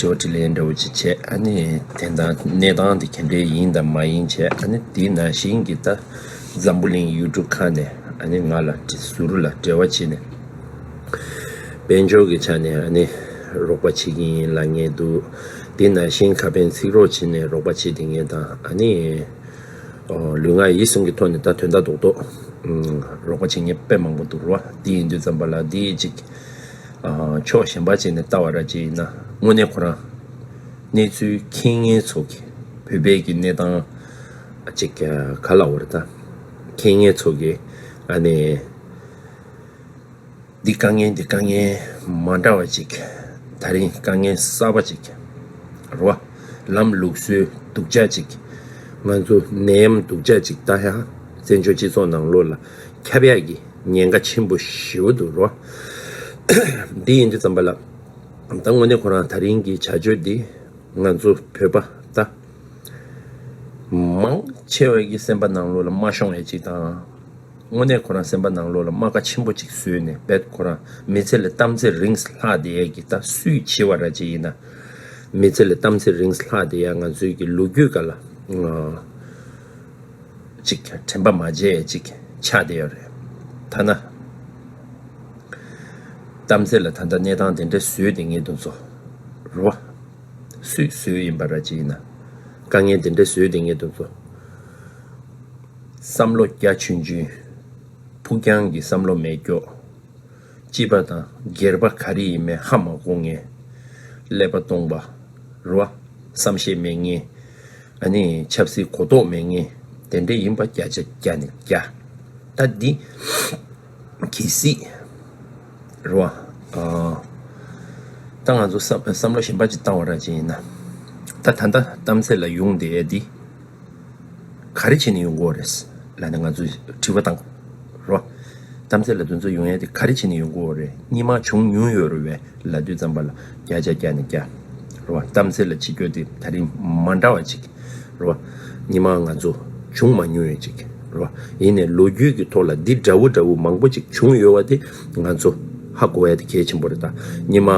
དྲི་བ་དྲིས་ལན་འདྲ་བོ་ཅིག་བྱས་ཨ་ནི་དེ་ན་གནས་སྟངས་དེ་གལ་འགྲེལ་ཡིན་དང་མ་ཡིན་བྱས་ཨ་ནི་དེ་ན་ཞིང་གི་ད་འཛམ་བུ་གླིང་ཡུལ་གྲུ་ཁག་ནས་ཨ་ནི་ང་ལ་ཟུར་ལ་འབྲེལ་བ་བྱེད་ནས་དཔལ་འབྱོར་གྱི་ཆ་ནས་ཨ་ནི་རོགས་པ་བྱེད་ཀྱི་ཡིན་ལ་ངེས་འདུག་དེ་ན་ཞིང་ཁ་ཕན་ཚིག་རོགས་བྱེད་ནས་རོགས་པ་བྱེད་དེ་ངེས་དང་ཨ་ནི། ལུས་ངག་ཡིད་གསུམ་གྱི་ཐོག་ནས་ད་དོན་ལྟ་རྟོག་དོགས་ལོག་པ་བྱེད་ངེས་དཔེ་མང་པོ་འདུག་རོ་འདི་ཡིན་དུས་བརྩམས་པ་ལ་འདི་ཡིན་ཅིག་ཕྱོགས་གཞན་པ་བྱས་ནས་ལྟ་བ་ར་བྱེད་ཡིན་ན་དངོས་གནས་ཁོ་རང་གནས་ཚུལ་མཁྱེན་ངན་ཚོགས་ཀྱིས་བོད་པའི་གི་གནས་སྟངས་ཅིག་ག་ལ་འོ་རེ་ད་མཁྱེན་ངན་ཚོགས་ཀྱིས་ཨ་ནེ། འདི་དཀའ་ངལ་འདི་དཀའ་ངལ་མ་འདྲ་བ་ཅིག། ད་རིང་དཀའ་ངལ་གསར་པ་ཅིག་རེད། བར་ལམ་ལུགས་སྲོལ་སྡུག་ཅག་ཅིག། ང་ཚོ་ནད་ཡམས་སྡུག་ཅག་ཅིག་ལྟ་ཡ། བཙན་བྱོལ་སྤྱི་ཚོགས་ནང་ལོ་ལ་ཁྱབ་ཡ་གི་ཉེན་ཁ་ཆེན་པོ་ཞི་བོ་འདུག་རོ། འདི་ཡིན་འདི་བརྩམས་པ་ལ། ད་དངོས་གནས་ཁོ་རང་ད་རིང་གི་བྱ་སྤྱོད་འདི། ང་ཚོ་བོད་པ་ད་མང་ཆེ་བ་གི་སེམས་པ་ནང་ལོ་ལ་མ་ཤོང་ཡ་ཅིག་དང། དངོས་གནས་ཁོ་རང་སེམས་པ་ནང་ལོག་ལ་རྨ་ཁ་ཆེན་པོ་གཅིག་བཟོས་ནས་བེད་ཁོ་རང་མི་ཚེ་ལས་གཏམ་ཚེ་རིངས་ལྷག་དེ་ཡས་ཀྱི་ད་སུས་བྱི་བ་ར་བྱི་ཡིན་ན་མི་ཚེ་ལས་གཏམ་ཚེ་རིངས་ལྷག་དེ་ཡས་ང་ཚོའི་གི་ལུ་གུ་ག་ལ་ཅིག་དྲན་པ་མ་བརྗེད་ཡས་ཅིག་ཆགས་དེ་ཡོད་རེད་ཐ་ན་གཏམ་ཚེ་ལ་ད་ལྟ་གནས་སྟངས་དེ་འདྲ་བཟོས་དེ་ངེས་དུ་འཛོ་ར་སུས་བཟོས་ཡིན་པ་ར་བྱི་ཡིན་ན་དཀའ་ངལ་དེ་འདྲ་བཟོས་དེ་ངེས་དུ་འཛོ། བསམ་བློ་རྒྱ་ཆུན་ཆུན། ཕུགས་རྒྱང་གི་བསམ་བློ་མེད་སྐྱོ། སྐྱིད་པ་དང་སྒེར་པ་ག་རེ་ཡིན་མེད་ཧ་མ་གོ་ངེས། ཀླད་པ་སྟོང་པ། རུ་བ། བསམ་ཤེས་མེད་ངེས། ཨ་ནི་ཆབ་སྲིད་གོ་རྟོགས་མེད་ངེས། དེ་འདྲ་ཡིན་པ་བརྒྱ་ཆ་བརྒྱ་ནས་བརྒྱ། ད་འདི། གི་སྲིད། རུ་བ། ད་ང་ཚོ་བསམ་བསམ་བློ་ཞིམ་པ་ཅིག་བཏང་བ་ར་ཅིག་ཡིན་ན། ད་ད་ལྟ་གཏམ་ཚད་ལ་ཡུང་དེ་འདི། ག་རེ་བྱས་ནས་ཡོང་གོ་རེད། ལ་ནི་ང་ཚོས་དྲི་བ་དང། རོ། རྩམ་རྩེ་ལ་དུས་ཚོད་ཡོང་ཡས་དེ་ག་རེ་བྱས་ནས་ཡོང་གོ་རེད་གཉིས་མ་བྱུང་ཉུང་ཡོད་རོ་བས་ལ་དུས་རྩམ་པ་ལ་བརྒྱ་ཆ་བརྒྱ་ནས་བརྒྱ། རོ། རྩམ་རྩེ་ལ་ཕྱི་སྐྱོད་དེ་ད་རིང་མ་འདྲ་བ་ཅིག། རོ། གཉིས་མ་ང་ཚོ་བྱུང་མ་ཉུང་ཡོད་ཅིག། རོ། ཡིན་ནས་ལོ་རྒྱུས་ཀྱི་ཐོག་ལ་འདི་འདྲ་བོ་འདྲ་བོ་མང་པོ་ཅིག་བྱུང་ཡོད་བ་དེ་ང་ཚོ་ཧ་གོ་བའི་གལ་ཆེན་པོ་རེད་ད། ཉི་མ་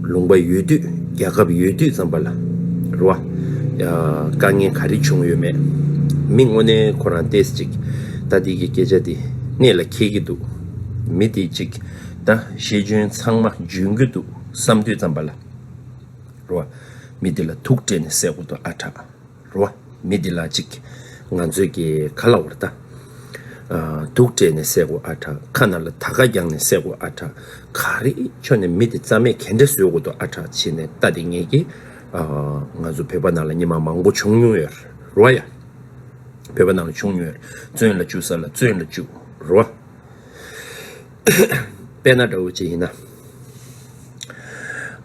ལུང་པ་ཡོད་དུས་རྒྱལ་ཁབ་ཡོད་དུས་ཙམ་པ་ལ་རེད་བ། དཀའ་ངལ་ག་རེ་བྱུང་ཡོད་མེད་མི་དངོས་གནས་ཁོ་རང་བལྟས་ཅིག་ད་འདི་གི་སྐད་ཆ་འདི་གནད་ལ་འཁེལ་གྱི་འདུག་མི་དེ་གཅིག་ད་ཤེས་འཇོན་ཚང་མ་འཇོན་གྱི་འདུག་བསམ་དུས་ཙམ་པ་ལ་རེད་བ། མི་དེ་ལ་ཐུག་སྤྲད་ནས་བསད་དགོས་འདུག་ཨ་གྲགས། རོ། མི་འདི་ལ་ཅིག། ང་ཚོད་ཀྱིས་ག་ལ་བར་ལྟ། དུག་སྤྲད་ནས་བསད་གོ་ཨ་ཕྲ་ཁ་ན་ལ་ད་ག་རྒྱང་ནས་བསད་གོ་ཨ་ཕྲ་ག་རེ་ཁྱོད་ནས་མི་འདི་རྩ་མེད་གན་འདྲེ་བཟོས་གོ་འདུག་ཨ་ཕྲ་བྱས་ནས་ལྟ་དེ་ངེས་ཀྱི། ང་ཚོ་བོད་པ་ནང་ལ་ཉི་མ་མང་པོ་བྱུང་མྱོང་ཡོད་རོ། ཡ། བོད་པ་ནང་ལ་བྱུང་མྱོང་ཡོད་བཙོན་ལ་བཅུག་ས་ལ་བཙོན་ལ་བཅུག་རོ། དཔེ་ན་འདྲ་བོ་ཅི་ཡིན་ན།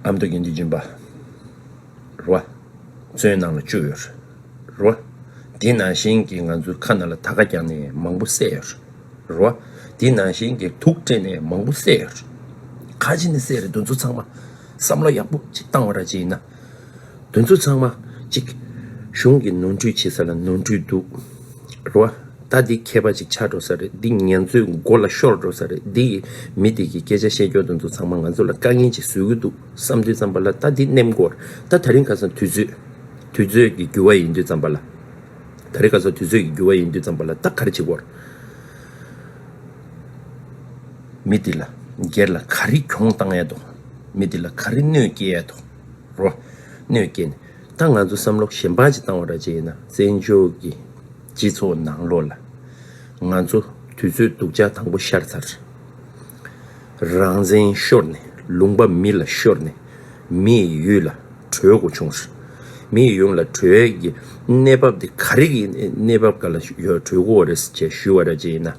ཨ་མདོ་དགེ་འདུན་སྦྱིན་པ། རོ། ཚོན་ནང་ལ་བཅུག་ཡོད་རོ། དེ་ནང་བཞིན་གྱི་ང་ཚོའི་ཁ་ན་ལ་ད་ག་རྒྱག་ནས་མང་པོ་བསད་ཡོད་རོ། དེ་ནང་བཞིན་གྱི་དུག་སྤྲད་ནས་མང་པོ་བསད་ཡོད་རོ། ཁ་ཅིག་ནི་བསད་རེད་འདུ་ཚོ་ཚང་མ་བསམ་བློ་ཡག་པོ་གཅིག་བཏང་བ་ར་ཅིག་ཡིན་ན། འདུ་ཚོ་ཚང་མ་གཅིག་གཞུང་གིས་ནོར་འཁྲུལ་བྱེད་ས་ལ་ནོར་འཁྲུལ་འདུག་རོ། ད་འདི་མཁས་པ་ཅིག་ཆགས་འགྲོ་ས་རེད་འདི་ངན་ཚོའི་མགོ་ལ་ཤོར་འགྲོ་ས་རེད་འདི་ཡི་མི་འདི་གི་སྐད་ཆ་བཤད་རྒྱུ་འདུ་ཚོ་ཚང་མ་ང་ཚོ་ལ་དཀའ་ངལ་ཅིག་བཟོས་གི་འདུག་བསམ་དུས་བརྩམས་པ་ལ་ད་འདི་གནས་སྐོར་ད་ད་རིང་ཁ་སང་དུས་ཚོད། དུས་ཚོད་ཀྱི་འགྱུར་བ་ཡིན་དུས་བརྩམས་པ་ལ། ད་རིང་ཁ་སང་དུས་ཚོད་ཀྱི་འགྱུར་བ་ཡིན་དུས་བརྩམས་པ་ལ་ད་ག་རེ་བྱེད་སྐོར། མི་འདི་ལ་སྒེར་ལ་ག་རེ་གྱོང་བཏང་ཡ་དོ། མི་འདི་ལ་ག་རེ་གནོད་སྐྱེལ་ཡ་དོ། རོ། གནོད་སྐྱེལ་ནས་ད་ང་ཚོ་བསམ་བློ་གཞན་པ་ཅིག་བཏང་བ་ར་བྱེད་ཡིན་ན་བཙན་བྱོལ་གྱི་སྤྱི་ཚོགས་ནང་ལོགས་ལ། ང་ཚོ་དུས་ཚོད་སྡུག་ཅག་དང་པོ་ཤར་ཚར། རང་བཙན་ཤོར་ནས་ལུང་པ་མི་ལ་ཤོར་ནས་མི་ཡི་ཡུལ་ལ་བྲོས་དགོས་བྱུང་ཟེར། མི་ཡི་ཡུལ་ལ་བྲོས་ཀྱི་གནས་བབ་དེ་ག་རེ་གི་གནས་བབ་ག་ལ་བྲོས་དགོས་རེད་ཅེས་ཞུས་བ་རེད་ཅེས་ཡིན་ན།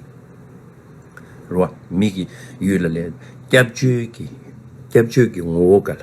རོ། མི་ཡི་ཡུལ་ལ་ལས་སྐྱབས་བཅོལ་གྱི་སྐྱབས་བཅོལ་གྱི་ངོ་བོ་ག་ལ།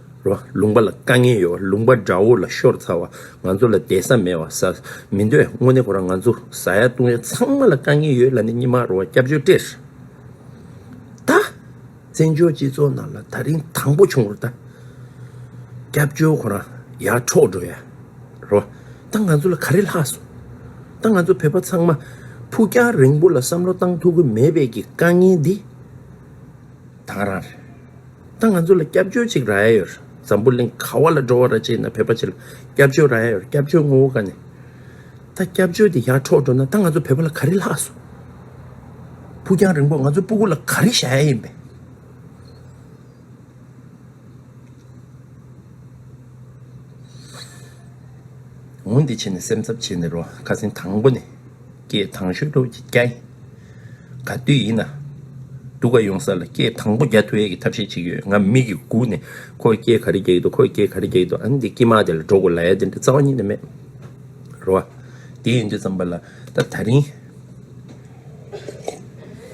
རོ། ལུང་པ་ལ་དཀའ་ངལ་ཡོད་བ་ལུང་པ་དགྲ་བོ་ལ་ཤོར་ཚར་བ་ང་ཚོ་ལ་བདེ་ས་མེད་བ་ཟ་མི་འདོད་དངོས་གནས་ཁོ་རང་ང་ཚོ་བཟའ་ཡ་བཏུང་ཡ་ཚང་མ་ལ་དཀའ་ངལ་ཡོད་ལ་ནི་སྙིང་མ་རུང་བ་སྐྱབས་བཅོལ་སྤྲེར་ད། བཙན་བྱོལ་སྤྱི་ཚོགས་ནང་ལ་ད་རིང་དང་པོ་བྱུང་བར་ད། སྐྱབས་བཅོལ་ཁོ་རང་ཡར་འཕྲོག་འགྲོ་ཡ་རོ། ད་ང་ཚོ་ལ་ག་རེ་ལྷག་སོང། ད་ང་ཚོ་བོད་པ་ཚང་མ་ཕུགས་རྒྱང་རིང་པོ་ལ་བསམ་བློ་བཏང་ཐུབ་ཀི་མེད་བས་ཀྱི་དཀའ་ངལ་འདི་དང་རང་རེད། ད་ང་ཚོ་ལ་སྐྱབས་བཅོལ་གཅིག་རག་ཡ་ཡོད། འཛམ་བུ་གླིང་ག་བ་ལ་འགྲོ་བ་ར་བྱེད་ན་བོད་པ་གཅིག་ལ་སྐྱབས་བཅོལ་རག་ཡ་ཡོད་སྐྱབས་བཅོལ་ངོ་བོ་ག་ནས། ད་སྐྱབས་བཅོལ་དེ་ཡར་འཕྲོག་འགྲོ་ན་ད་ང་ཚོ་བོད་པ་ལ་ག་རེ་ལྷག་སོང། ཕུགས་རྒྱང་རིང་པོར་ང་ཚོའི་སྤུ་གུ་ལ་ག་རེ་བཞག་ཡ་ཡིན་པས། འོང་འདི་བྱས་ནས་སེམས་འཚབ་བྱས་ནས་རོགས་ཁ་སེང་དང་པོ་ནས། སྐད་དང་ཤོད་ཐོ་ཀྱི་རྒྱ་ཡིན། ག་དུས་ཡིན་ན། སྡུག་ག་ཡོང་ས་ལ་སྐད་དང་པོ་རྒྱ་ཐོ་ཡས་ཀྱི་ཐབས་ཤེས་ཅིག་ཡོད་ང་མིག་གིས་སྒུག་ནས་ཁོ་སྐད་ག་རེ་རྒྱག་གི་འདུག་ཁོ་སྐད་ག་རེ་རྒྱག་གི་འདུག་ཨ་ནི་འདི་ཀྱི་མ་དེ་ལ་འགྲོ་དགོས་ལ་ཡ་དེ་འདྲ་རྩ་བ་ཉིད་ནས་མེད་རེད་བ། དེ་ཡིན་དུས་ཙམ་པ་ལ་ད་ད་རིང།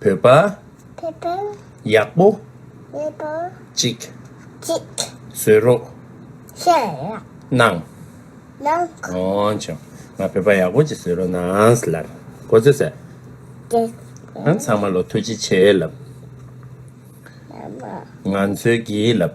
བོད་པ། ཡག་པོ། ཅིག། བཟོས་རོགས། གནང། འོང་བྱུང། ང་བོད་པ་ཡག་པོ་ཅིག་བཟོས་རོགས་གནང། ལར། གོ་ཚོད་ཟེར། ཨང་ཚང་མ་ལོ་ཐུགས་རྗེ་ཆེ། ལབ། ང་ཚོའི་གིས། ལབ།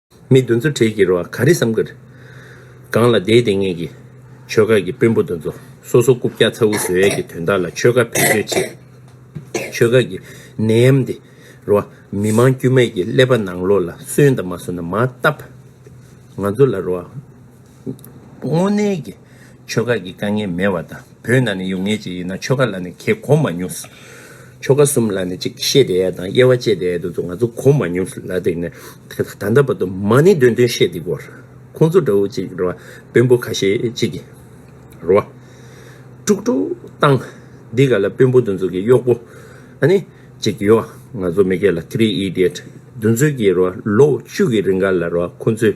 མི་འདུ་འཛོ་བྲེལ་གྱི་རོ་ག་རེ་བསམ་གི་རེད། སྒང་ལ་བསྡད་བསྡད་ངེད་ཀྱི་ཆོལ་ཁ་གི་དཔོན་པོ་འདུ་འཛོ་སོ་སོ་རྐུབ་བཀྱག་ཚ་འུར་བཟོས་ཡས་ཀྱི་དོན་དག་ལ་ཆོལ་ཁ་བེད་སྤྱོད་བྱེད། ཆོལ་ཁ་གི་ནད་ཡམས་འདི་རོ་མི་མང་དཀྱུས་མས་ཀྱི་ཀླད་པ་ནང་ལོག་ལ་སོན་དང་མ་སོན་ན་མ་བལྟ། ང་ཚོ་ལ་རོ། དངོས་གནས་ཀྱི་ཆོལ་ཁ་གི་དཀའ་ངལ་མེད་བ་དང་བོད་ནང་ནས་ཡོང་ངེས་ཅིག་ཡིན་ན་ཆོལ་ཁ་ལ་ནི་ཁྱེད་གོ་མ་མྱོང། ཆོལ་ཁ་གསུམ་ལ་ནི་ཅིག་བཤད་བསྡད་ཡ་དང་དབྱེ་བ་བཅད་བསྡད་ཡ་དེ་ཚོ་ང་ཚོ་གོ་མ་མྱོང་ལ་དེ་ནི་ད་ལྟ་བར་དུ་མ་ནི་དོན་དོན་བཤད་བསྡད་གོ། ཁོང་ཚོ་འདྲ་བོ་ཅིག་རེད་བ་དཔོན་པོ་ཁ་ཤས་ཅིག་གིས་རེད་བ། དཀྲུག་དཀྲུག་བཏང། འདི་ག་ལ་དཔོན་པོ་དེ་ཚོ་གི་གཡོག་པོ་ཨ་ནི་ཅིག་ཡོད་བ་ང་ཚོ་མི་སྐད་ལ three idiot དེ་ཚོ་གིས་རེད་བ་ལོ་བཅུ་གི་རིང་ག་ལ་རེད་བ་ཁོང་ཚོས་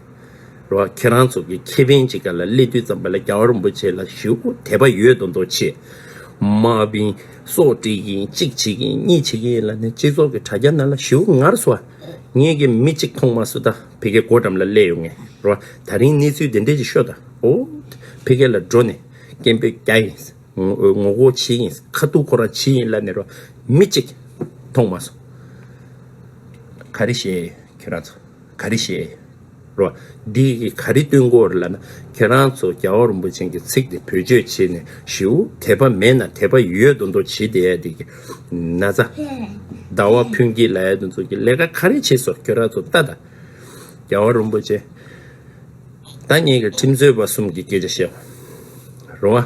རོ། ཁྱེད་རང་ཚོ་གི་ཁེ་ཕན་ཅི་ག་ལ་སླེབས་དུས་ཙམ་པ་ལ་རྒྱ་གར་རིན་པོ་ཆེ་ལ་ཞུ་དགོ་དད་པ་ཡོད་དོ་འདོ་ཆེ། མ་བིན། སོག་བཀྲིས་གིན་གཅིག་བྱེད་གིན་གཉིས་བྱེད་གིན་ཡིན་ལ་ནི་སྤྱི་ཚོགས་གི་དྲ་རྒྱ་ན་ལ་ཞུ་ངར་སོ་ཨ། ངེད་ཀྱི་མི་གཅིག་ཐོང་མ་སུ་ད་བྷི་གའི་སྒོ་འགྲམ་ལ་སླེ་ཡོ་ངེ་རོ། ད་རིང་གནས་ཚུལ་དེ་འདྲས་ཅིག་ཤོ་ད་ཨོ། བྷི་གའི་ལ་འགྲོ་ནས་སྐད་འབོད་རྒྱ་ཡིན། ངོ་གོ་བྱེད་ཡིན་ཁ་ཐུག་ཁོ་རང་བྱེད་ཡིན་ལ་ནི་རོ། མི་གཅིག་ཐོང་མ་སུ། ག་རེ་བྱེད་ཁྱོད་རང་ཚོ། ག་རེ་བཤད་རོགས། འདི་ག་རེ་བཏོན་དགོས་རེད་ལབ་ན་ཁྱེད་རང་ཚོ་རྒྱ་བོད་རིན་པོ་ཆེན་གྱི་ཚིག་དེ་བེད་སྤྱོད་བྱེད་ནས་ཞུ། དད་པ་མེད་ན་དད་པ་ཡོད་དུ་འདོ་བྱེད་དེ་ཡ་དེ་གི་ན་ཚ། ཟླ་བ་ཕུན་སྐྱིད་ལ་ཡ་དུ་འཚོ་གི་ལས་ཀ་ག་རེ་བྱེད་སོགས་ཁྱོད་རང་ཚོ་ལྟ་ད། རྒྱ་བོད་རིན་པོ་ཆེན་ད་ངེད་གི་ཁྲིམས་རྩོད་པ་གསུམ་གི་སྐད་ཆ་བཤད་རོགས།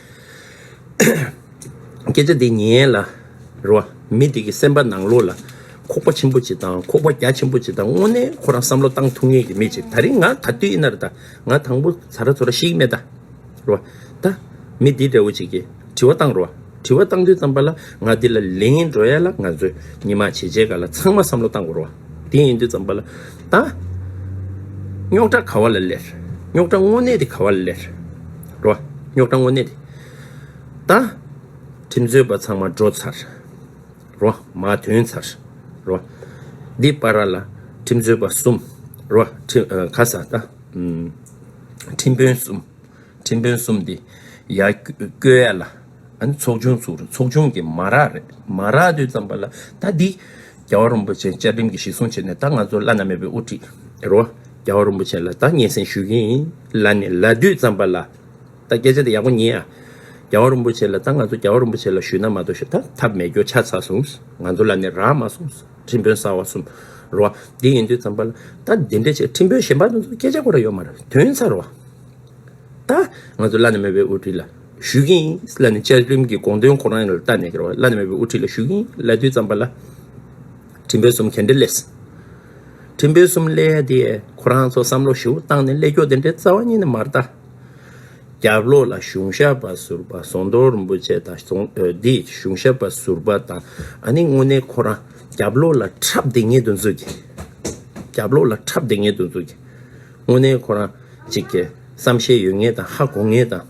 སྐད་ཆ་འདི་ཉན་ལ་རོ། མི་དེ་གི་སེམས་པ་ནང་ལོགས་ལ་ཁོག་པ་ཆེན་པོ་ཅིག་དང་ཁོག་པ་རྒྱ་ཆེན་པོ་ཅིག་དང་དངོས་གནས་ཁོ་རང་བསམ་བློ་བཏང་ཐུབ་ངེས་ཀྱི་མེད་ཅིག་ད་རིང་ང་ག་དུས་ཡིན་ན་རེ་ད་ང་དང་པོ་ཟ་ར་ཚོ་ར་ཤིག་མེད་ད་རོ། ད། མི་འདི་འདྲ་བོ་ཅིག་གི་དྲི་བ་བཏང་རོ། དྲི་བ་བཏང་དུས་ཙམ་པ་ལ་ང་འདི་ལ་ལན་འགྲོ་ཡ་ལ་ང་ཚོས་ཉི་མ་བྱེད་བྱེད་ག་ལ་ཚང་མ་བསམ་བློ་བཏང་གོ་རོ། དེ་ཡིན་དུས་ཙམ་པ་ལ། དང། རྙོག་དྲ་ག་བ་ལ་ལེར། རྙོག་དྲ་དངོས་གནས་དེ་ག་བ་ལ་ལེར། རོ། རྙོག་དྲ་དངོས་གནས་དེ། དང། ཁྲིམས་རྩོད་པ་ཚང་མ་འགྲོ་ཚར། རོ། མ་ཐོན་ཚར། རོ། འདི་པ་ར་ལ། ཁྲིམས་རྩོད་པ་གསུམ། རོ། ཁ་ས་ད། ཁྲིམས་དཔོན་གསུམ། ཁྲིམས་དཔོན་གསུམ་འདི། ཡ། ཀོས་ཡ་ལ། ཨ་ནི་ཚོགས་ཆུང་བཙུགས་རེད་ཚོགས་ཆུང་གི་མ་རག་རེད་མ་རག་དུས་ཙམ་པ་ལ་ད་འདི། རྒྱལ་བ་རིན་པོ་ཆེ་བཅའ་ཁྲིམས་ཀྱི་གཞི་སྲུང་བྱེད་ནས་ད་ང་ཚོ་བླ་ན་མེད་པའི་དབུ་ཁྲིད་རོ། རྒྱལ་བ་རིན་པོ་ཆེ་ལ་ད་སྙན་སེང་ཞུས་ཀྱི་ཡིན་ལ་ནི་ལ་དུས་ཙམ་པ་ལ། ད་སྐད་ཆ་དེ་ཡག་པོ་ཉན་ཨ། རྒྱལ་བ་རིན་པོ་ཆེ་ལ་ད་ང་ཚོ་རྒྱལ་བ་རིན་པོ་ཆེ་ལ་ཞུས་ན་མ་གཏོགས་ཞུ་ད་ཐབས་མེད་རྒྱུ་ཆ་ཚ་སོང་ང་ཚོ་ལ་ནི་རག་མ་སོང་ཁྲིམས་དཔོན་གསར་བ་གསུམ་རོ། འདི་ཡིན་དུས་ཙམ་པ་ལ་ད་འདི་འདྲ་བྱས་ཁྲིམས་དཔོན་གཞན་པ་ཚོ་སྐད་ཆ་གོ་ར་ཡོད་མ་རེད་དོན་ཚར་བ། ད་ང་ཚོ་བླ་ན་མེད་པའི་དབུ་ཁྲིད་ལ། ཞུས་ཀིན་ལ་ནི་བཅའ་ཁྲིམས་ཀྱི་དགོངས་དོན་གོ་རང་ཡིན་ལ་ལྟ་ནས་ཀིར་ལ་ནི་མེད་པའི་དབུ་ཁྲིད་ལ་ཞུས་ཀིན་ལ་དུས་བརྩམས་པ་ལ་ཁྲིམས་དཔོན་གསུམ་གན་འདྲེ་ལས་ཁྲིམས་དཔོན་གསུམ་ལས་དེ་ཁོ་རང་ཚོ་བསམ་བློ་ཞིའུ་བཏང་ནས་ཀླད་ཀྱོག་དེ་འདྲའི་རྩ་བ་གཉིས་ནི་མ་རྟ་རྒྱབ་ལོག་ལ་གཞུང་ཞབས་པ་ཟུར་པ་ཟོང་རྡོ་རིན་པོ་ཆེ་དང་ཟོང་འདི་གཞུང་ཞབས་པ་ཟུར་པ་དང་ཨ་ནི་དངོས་གནས་ཁོ་རང་རྒྱབ་ལོག་ལ་འཁྲབ་དེ་ངས་དུ་འཛུགས་ཀི་རྒྱབ་ལོག་ལ་འཁྲབ་དེ་ངས་དུ་འཛུགས་ཀི་དངོས་གནས་ཁོ་རང་ཅིག་གིས་བསམ་ཤེས་ཡོད་ངེས་དང་ཧ་གོ་ངེས་དང།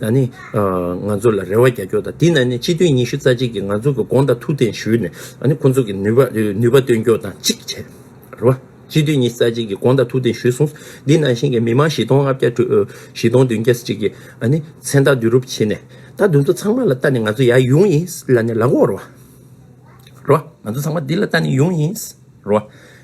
ན་ནི། ང་ཚོ་ལ་རེ་བ་རྒྱ་ཁྱོག་དང་དེ་ན་ནི་སྤྱི་འཐུས་ཉི་ཤུ་རྩ་གཅིག་གིས་ང་ཚོ་གི་དགོངས་དག་ཐུགས་གཏན་ཞུས་ནས་ཨ་ནི་ཁོ་ཚོ་གི་ནུས་པ་ནུས་པ་སྟོན་ཁྱོག་དང་གཅིག་བྱས། རེད་བ། སྤྱི་འཐུས་ཉི་ཤུ་རྩ་གཅིག་གིས་དགོངས་དག་ཐུགས་གཏན་ཞུས་སོང་འདི་ནང་བཞིན་གི་མི་མང་བཞི་སྟོང་ལྔ་བརྒྱ་དྲུག་བཞི་སྟོང་བདུན་བརྒྱ་ཅིག་གིས་ཨ་ནི་མཚན་རྟགས་བསྡུ་རུབ་བྱས་ནས་ད་དུང་ཚོ་ཚང་མ་ལ་ལྟ་ནི་ང་ཚོ་ཡ་ཡུང་ཡིན་ལ་ནི་ལ་གོ་རེད་བ། རེད་བ། ང་ཚོ་ཚང་མ་འདི་ལ་ལྟ་ནི་ཡུང་ཡིན། རེད་བ།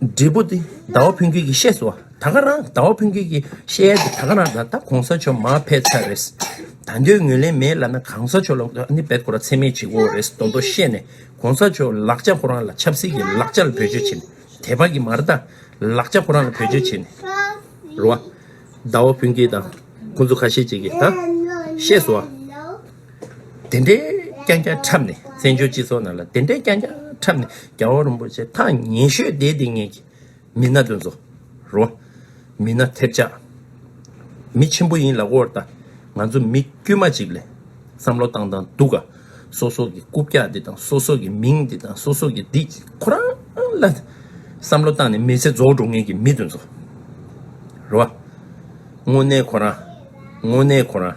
འབྲས་བུ་སྟེ་ཟླ་བ་ཕུན་ཁྱོད་ཀྱིས་ཤེས་སོ། ད་ག་རང་ཟླ་བ་ཕུན་ཁྱོད་ཀྱིས་ཤེས་ཡ་དེ་ད་ག་རང་ད་ད་གོང་ས་མཆོག་མ་ཕེད་ཚ་རེས། ད་འདོད་ངོས་ལེན་མེད་ལ་ན་གང་ས་མཆོག་ལ་ནི་བེད་ཁོ་ར་ཚད་མེད་ཅིག་འོ་རེས་དོ་འདོ་ཤེས་ནས་གོང་ས་མཆོག་ལག་ཆ་ཁོ་རང་ལ་ཆབ་སྲིད་ཀྱི་ལག་ཆ་ལ་བེད་སྤྱོད་བྱེད་ནས་དད་པ་ཀྱི་མར་དང་ལག་ཆ་ཁོ་རང་ལ་བེད་སྤྱོད་བྱེད་ནས་རོ། ཟླ་བ་ཕུན་ཁྱོད་དང་ཁོང་ཚོ་ཁ་ཤས་ཅིག་གིས་ད་ཤེས་སོ། དེ་འདྲའི་རྐྱང་རྐྱང་འཁྲབ་ནས་བཙན་བྱོལ་སྤྱི་ཚོགས་ནང་ལ་དེ་འདྲའི་རྐྱང་རྐྱང་འཁྲབ་ནས་རྒྱ་བོ་རིན་པོ་ཆེ་ཐང་ཉེ་ཤོས་བསྡད་དེ་ངེད་ཀྱི་མི་སྣ་དོན་ཚོ་རོ། མི་སྣ་ཐེབས་ཆག་མི་ཆེན་པོ་ཡིན་ལ་དབོར་ད་ང་ཚོ་མི་དཀྱུས་མ་ཅིག་ལས་བསམ་བློ་བཏང་དང་འདུག་ག་སོ་སོ་གི་རྐུབ་བཀྱག་འདི་དང་སོ་སོ་གི་མིང་འདི་དང་སོ་སོ་གི་འདི་ཁོ་རང་ལ་བསམ་བློ་བཏང་ནས་མི་ཚེ་རྫོགས་འགྲོ་ངེད་ཀྱི་མི་དོན་ཚོ་རོ། དངོས་གནས་ཁོ་རང་དངོས་གནས་ཁོ་རང།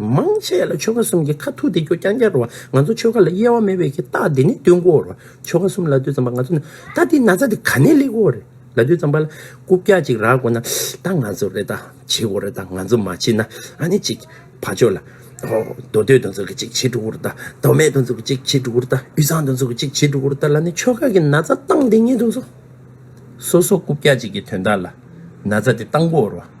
མང་ཆེ་ལ་ཆོ་ག་གསུམ་གྱི་ཁ་ཐུག་དེ་རྒྱུ་རྐྱང་རྐྱང་རུང་བ་ང་ཚོ་ཆོ་ག་ལ་དབྱེ་བ་མེད་པས་ཀྱི་རྟགས་འདི་ནི་སྟོན་གོ་རུང་ཆོ་ག་གསུམ་ལ་དུས་ཙམ་པ་ང་ཚོ་ནི་རྟགས་འདི་ན་ཚ་འདི་ག་ནས་ལེགས་གོ་རེད་ལ་དུས་ཙམ་པ་ལ་རྐུབ་བཀྱག་ཅིག་རག་གོ་ན་ད་ང་ཚོ་རེ་ད་བྱེད་གོ་རེ་ད་ང་ཚོ་མ་བྱེད་ན་ཨ་ནི་ཅིག་ཕ་ཆོས་ལ་རྡོ་སྟོད་དུ་འཛུལ་གི་ཅིག་བྱེད་འགྲོ་གོ་རུ་ད་རྡོ་སྨད་དུ་འཛུལ་གི་ཅིག་བྱེད་འགྲོ་གོ་རུ་ད་དབུས་གཙང་དུ་འཛུལ་གི་ཅིག་བྱེད་འགྲོ་གོ་རུ་ད་ལ་ནི་ཆོ་ག་གི་ན་ཚ་རྟགས་འདི་ངེས་དུ་འཚོ། སོ་སོ་རྐུབ་བཀྱག་ཅིག་གི་དོན་དག་ལ་ན་ཚ་འདི་བཏང་གོ་རུང།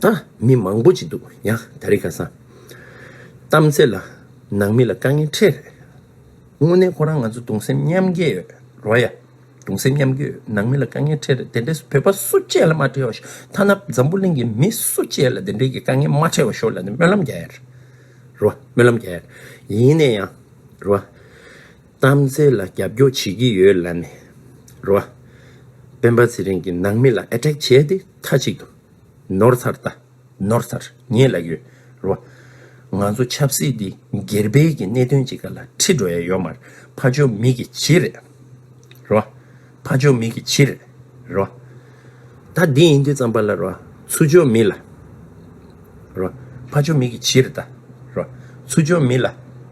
ད་མི་མང་པོ་ཅིག་འདུག་ཡ་ད་རེ་ག་ས་གཏམ་ཚེ་ལ་ནང་མི་ལ་དཀའ་ངལ་འཕྲད་རེད་དངོས་གནས་ཁོ་རང་ང་ཚོ་དུང་སེམས་མཉམ་སྐྱེ་ཡོད་རོ་ཡ་དུང་སེམས་མཉམ་སྐྱེ་ཡོད་ནང་མི་ལ་དཀའ་ངལ་འཕྲད་རེད་དེ་འདྲས་བོད་པ་སུ་བཅད་ལ་མ་འཕྲད་བ་ཤོག་ཐ་ན་འཛམ་བུ་གླིང་གི་མི་སུ་བཅད་ལ་དེ་འདྲས་ཀྱི་དཀའ་ངལ་མ་འཕྲད་བ་ཤོག་ལ་ནི་སྨོན་ལམ་རྒྱ་ཡ་རེད་རེད་བ་སྨོན་ལམ་རྒྱ་ཡ་རེད་ཡིན་ནས་ཡང་རེད་བ་གཏམ་ཚེ་ལ་རྒྱབ་སྐྱོ་བྱེད་ཀྱི་ཡོད་ལ་ནི་རེད་བ་སྤེན་པ་ཚེ་རིང་གི་ནང་མི་ལ Attack བྱས་ཏེ་ཐ་ཅིག་ཏུ། ནོར་ཚར་ད་ནོར་ཚར་ངེད་ལ་ཡོད་རོ། ང་ཚོ་ཆབ་སྲིད་འདི་སྒེར་སྤེལ་གྱི་གནད་དོན་ཅིག་ལ་ཁྲིད་འགྲོ་ཡ་ཡོད་མར་ཕ་ཇོ་མིག་གི་བྱི་རེད་རོ། ཕ་ཇོ་མིག་གི་བྱི་རེད་རོ། ད་འདི་ཡིན་དུས་ཙམ་པ་ལ་རོ། ཚུ་ཇོ་མི་ལ་རོ། ཕ་ཇོ་མིག་གི་བྱི་རེད་ད་རོ། ཚུ་ཇོ་མི་ལ།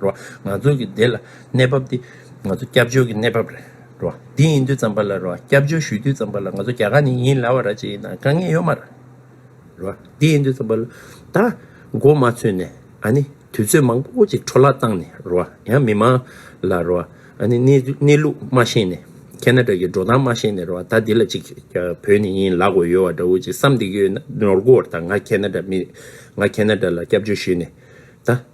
རེད། ང་ཚོ་གི་འདི་ལ་གནས་བབ་འདི་ང་ཚོ་སྐྱབས་བཅོལ་གི་གནས་བབ་རེད། འདི་ཡིན་དུས་ཙམ་པ་ལ་སྐྱབས་བཅོལ་ཞུས་དུས་ཙམ་པ་ལ་ང་ཚོ་རྒྱ་གར་ནས་ཡིན་ལ་བ་ར་ཅི་ཡིན་ན་དཀའ་ངལ་ཡོད་མ་རེད། འདི་ཡིན་དུས་ཙམ་པ་ལ་ད་མགོ་མ་ཚོས་ནས་ཨ་ནི་དུས་ཚོད་མང་པོ་ཅིག་འཕྲོ་བརླག་བཏང་ནས་ཡང་མི་མང་ལ་ཨ་ནི་གནས་ལུགས་མ་ཤེས་ནས་ཁེ་ན་ཏྲ་གི་འགྲོ་སྟངས་མ་ཤེས་ནས་ད་འདི་ལ་ཅིག་བོད་ནས་ཡིན་ལ་གོ་ཡོད་བ་འདྲ་བོ་ཅིག་བསམ་འདི་གི་ཡོད་ན་ནོར་གོ་ད་ང་ཁེ་ན་ཏྲ་མི་ང་ཁེ་ན་ཏྲ་ལ་སྐྱབས་བཅོལ་ཞུས་ནས་ད།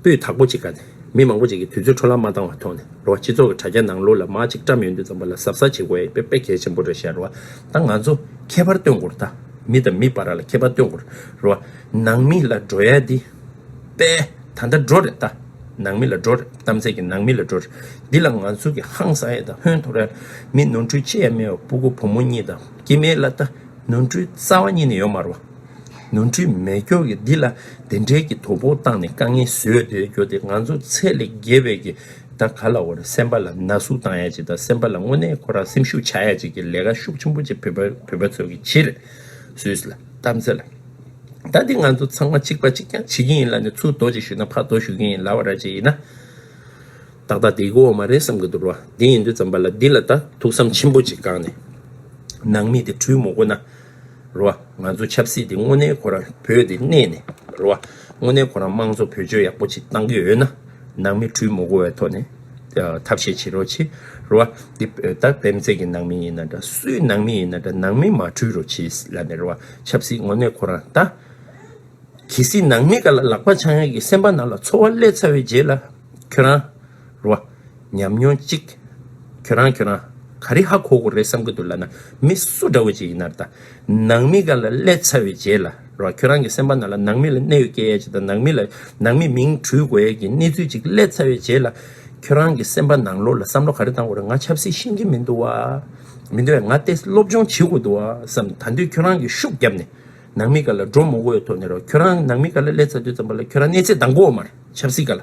སྤུས་དག་པོ་གཅིག་དགའ་ནས་མི་མང་པོ་ཅིག་གིས་དུས་ཚོད་འཕྲོ་བརླག་མ་བཏང་བ་མཐོང་ནས་རེ་བ་སྤྱི་ཚོགས་ཀྱི་དྲ་རྒྱ་ནང་ལོ་ལ་མ་གཅིག་བཀྲམ་ཡོད་འདུག་ཙམ་པ་ལ་གཟབ་གཟབ་བྱེད་དགོས་པའི་དཔེ་གལ་ཆེན་པོ་རེ་བཤད་རོགས་ད་ང་ཚོ་ཁྱད་པར་སྟོན་དགོས་རེད་ད་མི་དང་མི་བར་ར་ལ་ཁྱད་པར་སྟོན་དགོས་རེད་ནང་མི་ལ་འགྲོ་ཡ་འདི་དཔེ་ད་ལྟ་འགྲོ་རེད་ད་ནང་མི་ལ་འགྲོ་རེད་གཏམ་ཚད་ཀྱི་ནང་མི་ལ་འགྲོ་རེད་འདི་ལ་ང་ཚོ་གི་ཧང་སང་ཡ་ད་ཧོན་ཐོ་ར་མི་ནོར་འཁྲུལ་ཅི་ཡ་མེད་བ་སྤུ་གུ་བུ་མོ་གཉིས་དང་སྐྱེ་མེད་ལ་ད་ནོར་འཁྲུལ་རྩ་བ་ཉིད་ནས་ཡོད་མ་རོགས། ནོར་འཁྲུལ་མེད་སྐྱོར་གྱི་འདི་ལ་བདེན་འབྲེལ་གྱི་དོ་ཕོག་བཏང་ནས་དཀའ་ངལ་བཟོས་དེ་རྒྱོ་དེ་ང་ཚོ་ཚད་ལས་བརྒལ་བས་ཀྱི་ད་ག་ལ་བར་སེམས་པ་ལ་ན་ཟུག་བཏང་ཡ་ཅིག་དང་སེམས་པ་ལ་དངོས་གནས་ཁོ་རང་སེམས་ཤུགས་ཆག་ཡ་ཅིག་གྱི་ལས་ཀ་ཤུགས་ཆེན་པོ་ཅིག་བོད་པ་ཚོས་ཀྱི་བྱེད་སུས་ལ་གཏམ་ཚེ་ལ། ད་འདི་ང་ཚོ་ཚང་མ་གཅིག་པ་གཅིག་རྐྱང་བྱེད་ཀྱིན་ཡིན་ལ་ནི་ཚུར་དོ་ཅིག་ཞུས་ན་ཕར་དོ་ཞུ་གྱིན་ཡིན་ལ་བ་ར་ཅིག་ཡིན་ན་ཏག་ཏག་འདི་གོ་འོ་མ་རེད་བསམ་གྱི་འདུག་རོ་འདི་ཡིན་དུས་ཙམ་པ་ལ་འདི་ལ་ད་ཐུགས་བསམ་ཆེན་པོ་ཅིག་བསྐངས་ནས་ནང་མི་དེ་འཁྲུལ་མོ་གོ་ན། རེད་བ། ང་ཚོ་ཆབ་སྲིད་དེ་དངོས་གནས་ཁོ་རང་བོད་དེ་གནས་ནས་རེད་བ། དངོས་གནས་ཁོ་རང་དམངས་གཙོ་བོད་ཆོལ་ཡག་པོ་ཆེད་གཏང་གི་ཡོད་ན། ནང་མི་གྲུས་མོ་གོ་བའི་ཐོག་ནས་ཐབས་ཤེས་བྱེད་རོགས་གྱིས་རེད་བ། འདི་བོད་ད་བེམ་རྫས་ཀྱི་ནང་མི་ཡིན་ན་འདྲ་སུའི་ནང་མི་ཡིན་ན་འདྲ་ནང་མི་མ་གྲུས་རོགས་གྱིས་ལ་ནས་རེད་བ། ཆབ་སྲིད་དངོས་གནས་ཁོ་རང་ད། གལ་སྲིད་ནང་མི་ག་ལ་ལག་པ་འཆང་ཡ་གི་སེམས་པ་ནང་ལ་ཚོར་བ་བསླད་ཚར་བའི་རྗེས་ལ་ཁྱོད་རང། རོ། ཉམས་མྱོང་གཅིག། ཁྱོད་རང་ཁྱོད་རང། ག་རེ་ཧ་གོ་གོ་རེད་བསམ་གྱི་འདུག་ལ་ན་མི་སུ་འདྲ་བོ་ཅིག་ཡིན་ནར་ད། ནང་མི་ག་ལ་ཀླད་ཚ་བའི་རྗེས་ལ་རོ། ཁྱོད་རང་གི་སེམས་པ་ན་ལ་ནང་མི་ལ་གནས་ཡོད་སྐྱེ་ཡས་ཅིག་དང་ནང་མི་ལ་ནང་མི་མིང་གྲུས་དགོས་ཡས་ཀྱི་གནས་ཚུལ་ཅིག་ཀླད་ཚ་བའི་རྗེས་ལ། ཁྱོད་རང་གི་སེམས་པ་ནང་ལོག་ལ་བསམ་བློ་ག་རེ་བཏང་གོ་རེད་ང་ཆབ་སྲིད་ཤེས་ཀྱི་མི་འདུག་བ། མི་འདུག་བས་ང་ཏེ་སློབ་སྦྱོང་བྱེད་དགོས་འདུག་བ་བསམ་ད་དུས་ཁྱོད་རང་གི་ཤུགས་བརྒྱབ་ནས་ནང་མི་ག་ལ་འགྲོ་མོ་གོ་ཡས་ཐོག་ནས་རོ། ཁྱོད་རང་ནང་མི་ག་ལ་ཀླད་ཚ་དུས་ཙམ་པ་ལ་ཁྱོད་རང་གནས་ཚད་འདང་གོ་མར་ཆབ་སྲིད་ག་ལ།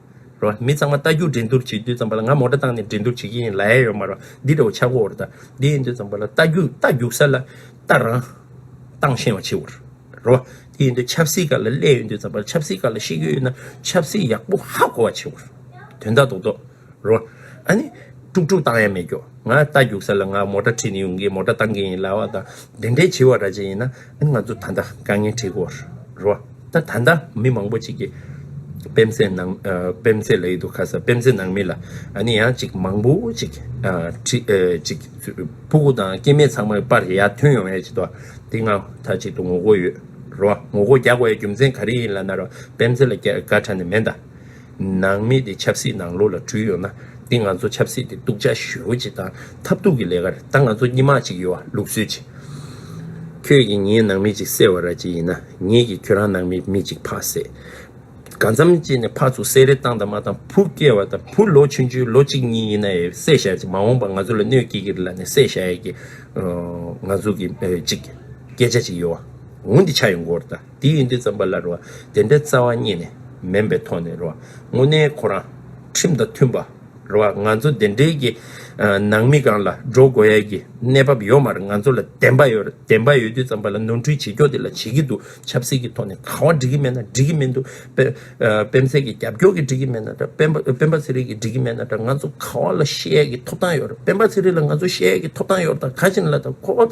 རོ། མི་ཚང་མ་རྟ་རྒྱུག་འགྲན་སྡུར་བྱེད་དུས་ཙམ་པ་ལ་ང་མོ་སྒྲ་བཏང་ནས་འགྲན་སྡུར་བྱེད་ཀྱི་ཡིན་ལ་ཨེ་ཡོད་མ་རོ། འདི་འདྲ་བོ་ཆག་སྒོ་བོར་ད་འདི་ཡིན་དུས་ཙམ་པ་ལ་རྟ་རྒྱུག་རྟ་རྒྱུག་ས་ལ་རྟ་རང་བཏང་ཤེས་བ་ཆེ་བར་རོ། དེ་ཡིན་དུས་ཆབ་སྲིད་ཀ་ལ་སླད་ཡོད་དུས་ཙམ་པ་ལ་ཆབ་སྲིད་ཀ་ལ་ཤེས་ཀྱི་ཡོད་ན་ཆབ་སྲིད་ཡག་པོ་ཧ་གོ་བ་ཆེ་བར་དོན་དག་རྡོག་རྡོག་རོ། ཨ་ནི། དཀྲུག་དཀྲུག་བཏང་ཡ་མེད་ཀྱོ་ང་རྟ་རྒྱུག་ས་ལ་ང་མོ་སྒྲ་ཁྲིད་ནས་ཡོང་གི་མོ་སྒྲ་བཏང་གི་ཡིན་ལ་བ་དང་འགྲན་བྲལ་བྱེད་བ་ར་ཅན་ཡིན་ན། ང་ཚོ་ད་ལྟ་དཀའ་ངལ་འཕྲད་སྒོ་རུ་བ། ད་ད་ལྟ་མི་མང་པོ་ཅིག་གིས་སྤེན་ཚེ་ནང་སྤེན་ཚེ་ལ་ཡི་དུ་ཁ་ས་སྤེན་ཚེ་ནང་མི་ལ་ཨ་ནི་ཡང་ཅིག་མང་པོ་ཅིག་ཁྲི་ཅིག་ཕུ་གུ་དང་སྐྱེ་མེད་ཚང་མ་པར་ཡར་ཐོན་ཡོང་ཡ་ཅིག་དོ་དེ་སྔ་ད་ཅིག་ཏུ་ངོ་རྒོལ་ཡོད་རུ་བ་ངོ་རྒོལ་རྒྱག་དགོ་ཡ་རྒྱུ་མཚན་ག་རེ་ཡིན་ལ་ན་རོ་སྤེན་ཚེ་ལ་སྐད་ཁྲ་ནི་མེད་ད། ནང་མི་དེ་ཆབ་སྲིད་ནང་ལོགས་ལ་འཁྲུལ་ཡོད་ན་དེ་ང་ཚོ་ཆབ་སྲིད་དེ་གཏུག་ཆ་ཞུ་བྱེད་དང་ཐབས་སྡུག་གི་ལས་ཀ་རེད་ད་ང་ཚོ་སྙི་མ་གཅིག་ཡོད་ལུགས་གསོལ་གྱི། ཁྱོད་ཀྱིས་ངའི་ནང་མི་གཅིག་སེར་བ་ར་གཅིག་ཡིན་ན་ངས་ཀྱིས་ཁྱོད་རང་ནང་མི་མི་གཅིག་ཕག་སེར། ག་འཚམ་གཅིག་ནས་ཕག་ཚུགས་སེར་རེ་བཏང་དང་མ་བཏང་བུ་སྐྱེ་བ་དང་བུ་ལོ་ཆུང་ཆུང་ལོ་གཅིག་གཉིས་ཡིན་ན་ཡི་བསད་བཞག་ཅིག་མ་འོངས་པ་ང་ཚོ་ལ་གནོད་སྐྱེལ་གྱི་རེད་ལ་ནས་བསད་བཞག་ཡ་གྱི། ང་ཚོ་གི་གཅིག་སྐད་ཆ་གཅིག་ཡོད་འོང་འདི་ཆ་ཡོད་འགོར་ད། དེ་ཡིན་དུས་བརྩམས་པ་ལ་རུང་བ་དེ་འདྲའི་རྩ་བ་རྙེད་ནས་མིན་པའི་ཐོག་ནས་རུང་བ་དངོས་གནས་ཁོ་རང་ཁྲིམས་དང་མཐུན་པར་རུང་བ་ང་ཚོ་འདི་འདྲའི་གི་ནང་མི་གང་ལ་འགྲོ་དགོས་ཡ་གི་གནས་བབ་ཡོད་མ་རེད་ང་ཚོ་ལ་བདེན་པ་ཡོད་རེད་བདེན་པ་ཡོད་དུས་བརྩམས་པ་ལ་ནོར་འཁྲུལ་བྱེད་ཀྱོག་དེ་ལ་བྱེད་གི་འདུག་ཆབ་སྲིད་ཀྱི་ཐོག་ནས་གང་བ་འགྲིག་གི་མེད་ན་འགྲིག་གི་མི་འདུག་སྤེན་ཚེ་གི་རྒྱབ་སྐྱོར་གི་འགྲིག་གི་མེད་ན་འདྲ་སྤེན་པ་ཚེ་རིང་གི་འགྲིག་གི་མེད་ན་འདྲ་ང་ཚོ་གང་བ་ལ་བཤད་ཡ་གི་ཐོབ་ཐང་ཡོད་རེད་སྤེན་པ་ཚེ་རིང་ལ་ང་ཚོ་བཤད་ཡ་གི་ཐོབ་ཐང་ཡོད་རེད་དང་ག་བྱིན་ལ་དང་ཁོ་བ།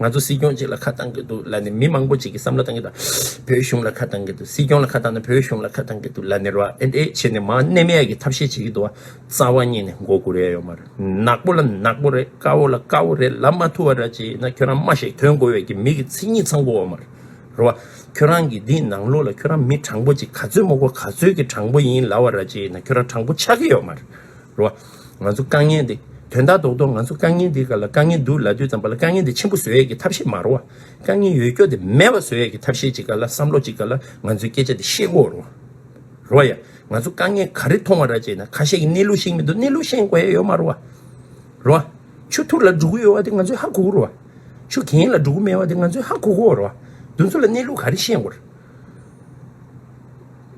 ང་ཚོ་སྲིད་སྐྱོང་གཅིག་ལ་ཁ་བཏང་གི་འདུག་ལ་ནི་མི་མང་པོ་གཅིག་གི་བསམ་བློ་བཏང་གི་འདུག་བོད་གཞུང་ལ་ཁ་བཏང་གི་འདུག་སྲིད་སྐྱོང་ལ་ཁ་བཏང་ན་བོད་གཞུང་ལ་ཁ་བཏང་གི་འདུག་ལ་ནི་ར་ཨེ་འད་ཨེ་བྱེད་ནི་མ་གནས་མ་ཡག་གི་ཐབས་ཤེས་བྱེད་ཀྱི་འདུག་བ་རྩ་བ་ཉིད་ནས་མགོ་སྒུར་ཡ་ཡོད་མ་རེད་ནག་པོ་ལ་ནག་པོ་རེད་དཀར་བོ་ལ་དཀར་བོ་རེད་ལབ་མ་ཐུབ་བ་ར་ཅི་ཡིན་ན་ཁྱོད་རང་སྨྲ་ཞིག་དོན་གོ་བས་ཀྱི་མིག་གི་མཚན་ཉིད་ཚང་གོ་བ་མ་རེད་བ་ཁྱོད་རང་གི་འདི་ནང་ལོག་ལ་ཁྱོད་རང་མི་དྲང་པོ་ཅིག་ག་ཚོད་མོ་གོ་ག་ཚོད་ཀྱི་དྲང་པོ་ཡིན་ལ་བ་ར་ཅི་ཡིན་ན་ཁྱོད་རང་དྲང་པོ་ཆགས་ཀྱི་ཡོད་མ་རེད། རེད་བ། ང་ཚོ་དཀའ་ངལ་འདི། དོན་དག་རྡོག་རྡོག་ང་ཚོ་དཀའ་ངལ་འདི་ག་ལ་དཀའ་ངལ་འདུག་ལ་དུས་ཙམ་པ་ལ་དཀའ་ངལ་འདི་ཆེན་པོ་བཟོ་ཡས་ཀྱི་ཐབས་ཤེས་མ་རོ་བ། དཀའ་ངལ་ཡོད་སྐྱོ་འདི་མེད་པ་བཟོ་ཡས་ཀྱི་ཐབས་ཤེས་ཅིག་ག་ལ་བསམ་བློ་ཅིག་ག་ལ་ང་ཚོའི་སྐད་ཆ་འདི་ཤེས་དགོས་རོ། རོ་ཡ། ང་ཚོ་དཀའ་ངལ་ག་རེ་མཐོང་བ་ར་ཅེ་ན་ཁ་ཤས་ཀྱི་གནས་ལུགས་ཤེས་མི་འདུག་གནས་ལུགས་ཤེས་དགོས་ཡས་ཡོད་མ་རོ་བ། རོ་བ། ཆུ་ཐུར་ལ་འགྲོ་གི་ཡོད་བ་འདི་ང་ཚོའི་ཧ་གོ་གི་རོ་བ། ཆུ་གྱེན་ལ་འགྲོ་གི་མེད་བ་འདི་ང་ཚོའི་ཧ་གོ་གོ་རོ་བ། འདུ་འཚོ་ལ་གནས་ལུགས་ག་རེ་ཤེས་དགོས།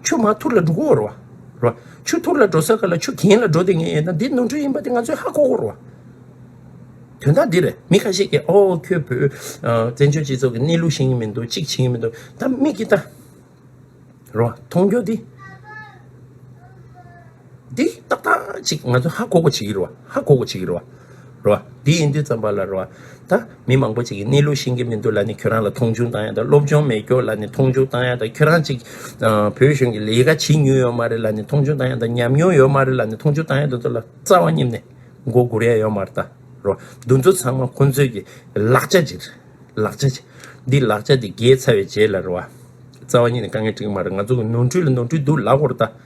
ཆུ་མ་ཐུར་ལ་འགྲོ་ཁོ་བོར་བ། ཆུ་ཐུར་ལ་འགྲོ་ས་ག་ལ་ཆུ་གྱེན་ལ་འགྲོ་དེ་ངས་ཡིན་ན་འདི་ནོར་འཁྲུལ་ཡིན་པ་དེ་ང་ཚོས་ཧ་གོ་བོར་བ། དོན་དག་འདིར་མི་ཁ་ཤས་ཀྱིས་ཨོ་ཁྱོད་བོད་བཙན་བྱོལ་སྤྱི་ཚོགས་ཀྱི་གནས་ལུགས་ཤེས་ཀྱི་མི་འདུག་གཅིག་བྱེད་ཀྱི་མི་འདུག་ད་དམིགས་ཀྱིས་ལྟ། མཐོང་རྒྱུ་འདི། འདི་ཏག་ཏག་ཅིག་ང་ཚོས་ཧ་གོ་གོ་བྱེད་ཀྱི་རེད་བ། ཧ་གོ་གོ་བྱེད་ཀྱི་རེད་བ། རེད་བ། འདི་ཡིན་དུས་ཙམ་པ་ལ་རེད་བ། ད་མི་མང་པོ་ཅིག་གིས་གནས་ལུགས་ཤེས་ཀྱི་མི་འདུག་ལ་ནི་ཁྱོད་རང་ལ་མཐོང་ཆུང་བཏང་ཡ་དང་སློབ་སྦྱོང་མེད་སྐྱོ་ལ་ནི་མཐོང་ཆུང་བཏང་ཡ་དང་ཁྱོད་རང་ཅིག་བོད་གཞུང་གི་ལས་ཀ་བྱེད་མྱོང་ཡོད་མ་རེད་ལ་ནི་མཐོང་ཆུང་བཏང་ཡ་དང་ཉམས་མྱོང་ཡོད་མ་རེད་ལ་ནི་མཐོང་ཆུང་བཏང་ཡ་དང་ཚོ་ལ་རྩ་བ་སྙེམས་ནས་མགོ་སྒུར་ཡ་ཡོད་མ་རེད་ད། རེད་བ། འདུ་ཚོ་ཚང་མ་ཁོང་ཚོས་ཀྱི་ལག་ཆ་ཅིག་རེད། ལག་ཆ་ཅིག། འདི་ལག་ཆ་འདི་རྒྱལ་ཚ་བའི་རྗེས་ལ་རེད་བ། རྩ་བ་ཉིད་ནས་དཀའ་ངལ་སྤྲིངས་ཀྱི་མ་རེད་ང་ཚོ་གི་ནོར་འཁྲུལ་ལ་ནོར་འཁྲུལ་འདུག་ལ་གོ་རེ་ད།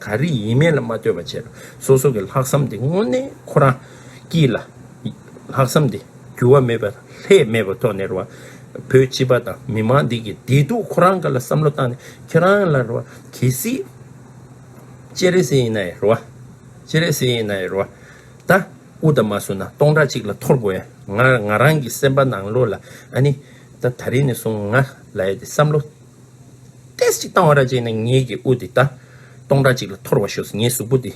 ག་རེ་ཡིན་མིན་ལ་མ་ལྟོས་པ་ཕྱིར་སོ་སོ་གི་ལྷག་བསམ་དེ་དངོས་གནས་ཁོ་རང་སྐྱིད་ལ། ལྷག་བསམ་དེ་འགྱུར་བ་མེད་པར་ལྷད་མེད་པར་ཐོག་ནས་རེ་བ། བོད་སྤྱི་པ་དང་མི་མང་འདི་གི་བདེ་སྡུག་ཁོ་རང་གི་ལ་བསམ་བློ་བཏང་ནས་ཁྱེད་རང་ལ་རེ་བ་གལ་སྲིད། སྤྱན་རས་གཟིགས་ཡིན་ན་ཡི་རེ་བ། སྤྱན་རས་གཟིགས་ཡིན་ན་ཡི་རེ་བ། ད་དབུ་ད་མ་བསུ་ན་སྟོང་ཕྲག་གཅིག་ལ་འཐོར་དགོས་ཡ་ང་ང་རང་གི་སེམས་པ་ནང་ལོགས་ལ་ཨ་ནི། ད་ད་རིང་ནས་བཟུང་ང་ལ་ཡ་དེ་བསམ་བློ། ཏེས་ཅིག་བཏང་བ་ར་བཅད་ནས་ངེད་ཀྱི་དབུ་དེ་ད། སྟོང་ཕྲག་ཅིག་ལ་འཐོར་བར་ཤོག་ངའི་གཟུགས་པོ་དེ།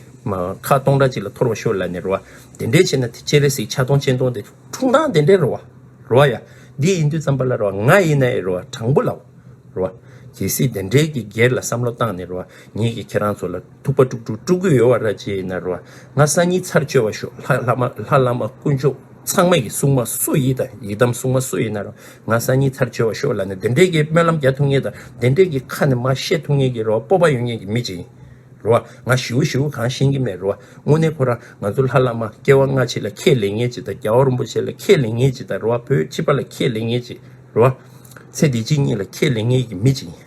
ཁ་སྟོང་ཕྲག་ཅིག་ལ་འཐོར་བར་ཤོག་ལ་ནི་རོ། དེ་འདྲས་བྱས་ན་དེ་ཅི་རེད་ཟིག་ཆ་སྟོང་སྤྱན་སྟོང་དེ་འཁྲུངས་སྟངས་དེ་འདྲས་རོ། རོ་ཡ། འདི་ཡིན་དུས་ཙམ་པ་ལ་རོ་ང་ཡིན་ན་ཡི་རོ་དྲང་པོ་ལ། རོ། གལ་སྲིད་དེ་འདྲས་ཀྱི་སྒེར་ལ་བསམ་བློ་བཏང་ནས་རོ་ངེད་ཀྱིས་ཁྱེད་རང་ཚོ་ལ། ཐུག་པ་དཀྲུགས་དཀྲུགས་དཀྲུགས་གུ་ཡོལ་བ་ར་རྗེ་ཡི་ནར་བ་ང་ས་གཉིས་ཚར་གཅོད་བ་ཤོག་ལྷ་ལྷ་མ་ལྷ་ལྷ་མ་དཀོན་མཆོག་ཚང་མ་ཡི་སྲུང་མ་སུ་ཡི་དང་ཡི་དམ་སྲུང་མ་སུ་ཡི་ནར་བ་ང་ས་གཉིས་ཚར་གཅོད་བ་ཤོག་ལ་ནི་བདེན་འབྲས་ཀྱི་སྨོན་ལམ་རྒྱ་ཐུགས་ངེས་དང་བདེན་འབྲས་ཀྱི་ཁ་ནི་མ་ཤེས་ཐུགས་ངེས་ཀྱི་ར་བ་སྤོབས་པ་ཡོད་ངེས་ཀྱི་མི་གཅིག་ཡིན་ར་བ་ང་ཞི་བོ་ཞི་བོ་གང་ཤེས་ཀྱི་མེད་ར་བ་དངོས་གནས་ཁོ་རང་ང་ཚོ་ལྷ་ལྷ་མ་སྐྱེ་བ་སྔ་ཕྱི་ལ་ཁས་ལེན་ངེས་ཅིག་དང་རྒྱ་བ་རིན་པོ་ཆེ་ལ་ཁས་ལེན་ངེས་ཅིག་དང་ར་བ་བོད་སྤྱི་པ་ལ་ཁས་ལེན་ངེས་ཅིག་ར་བ་ཚེ་འདི་སྤྱི་གཉིས་ལ་ཁས་ལེན་ངེས་ཀྱི་མི་གཅིག་ཡིན།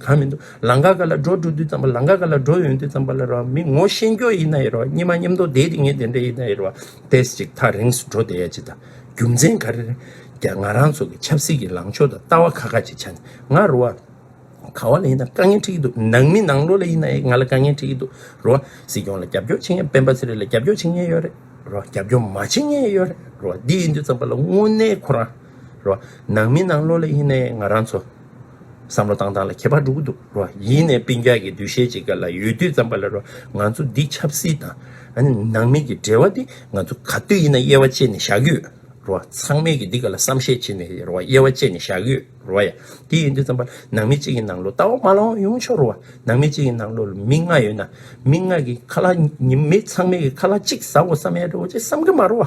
གང་མི་འདུག་ལང་ཀ་ག་ལ་འགྲོ་འགྲོ་དུས་ཙམ་པ་ལང་ཀ་ག་ལ་འགྲོ་ཡོང་དུས་ཙམ་པ་ལ་རོ་མི་ངོ་ཤེས་འགྱོ་ཡིན་ན་ཡིན་རོ་སྙེ་མ་སྙེ་མདོ་དེ་དེ་ངེ་དེ་འདྲ་ཡིན་ན་ཡིན་རོ་བེས་ཅིག་ཐག་རིང་སུ་འགྲོ་བསྡད་ཡ་ཅི་ད་རྒྱུ་མཚན་ག་རེ་རེད་ང་རང་ཚོ་གི་ཆབ་སྲིད་ཀྱི་ལང་ཕྱོགས་དང་ལྟ་བ་ཁ་ཁ་ཅིག་ཆ་ནས་ང་རོ་བ་ག་བ་ལ་ཡིན་ན་དཀའ་ངལ་འཁྲི་གི་འདུག་ནང་མི་ནང་ལོ་ལ་ཡིན་ན་ཡང་ང་ལ་དཀའ་ངལ་འཁྲི་གི་འདུག་རོ་བ་སྲིད་སྐྱོང་ལ་རྒྱབ་སྐྱོར་བྱེད་མཁན་སྤེན་པ་ཚེ་རིང་ལ་རྒྱབ་སྐྱོར་བྱེད་མཁན་ཡོད་རེད་རོ་བ་རྒྱབ་སྐྱོར་མ་བྱེད་མཁན་ཡོད་རེད་རོ་བ་འདི་ཡིན་དུས་ཙམ་པ་ལ་དངོས་གནས་ཁོ་རང་རོ་བ་ནང་མི་ནང་ལོ་ལ་ཡིན་ན་ཡང་ང་རང་ཚོ། བསམ་བློ་བཏང་སྟངས་ལ་ཁྱད་པར་འགྲོ་གི་འདུག་རོ། ཡིན་ནའི་དཔེ་འཇགས་ཀྱི་འདུ་ཤེས་ཅིག་ག་ལ་ཡོད་དུས་བརྩམས་པ་ལ་རོ། ང་ཚོ་འདི་ཆབ་སྲིད་དང། ནང་མི་གི་འབྲེལ་བ་འདི་ང་ཚོ་ག་དུས་ཡིན་ན་དབྱེ་བ་ཕྱེ་ནས་བཞག་གི་ཡོད་རོ། ཚང་མས་ཀྱི་འདི་ག་ལ་བསམ་ཤེས་བྱེད་ནས་རོ་དབྱེ་བ་ཕྱེ་ནས་བཞག་གི་ཡོད་རོ། ཡ། དེ་ཡིན་དུས་བརྩམས་པ་ལ་ནང་མི་གཅིག་གི་ནང་ལོ་ལྟ་བ་མ་ལོངས་ཡོང་ཆོག་རོ། ནང་མི་གཅིག་གི་ནང་ལོ་མི་ལྔ་ཡོད་ན། མི་ལྔ་གི་ཁ་ལ། མི་ཚང་མས་ཀྱི་ཁ་ལ་གཅིག་ཟ་འོ་ས་མེད་རོ་ཅེས་བསམ་གི་མ་རོ།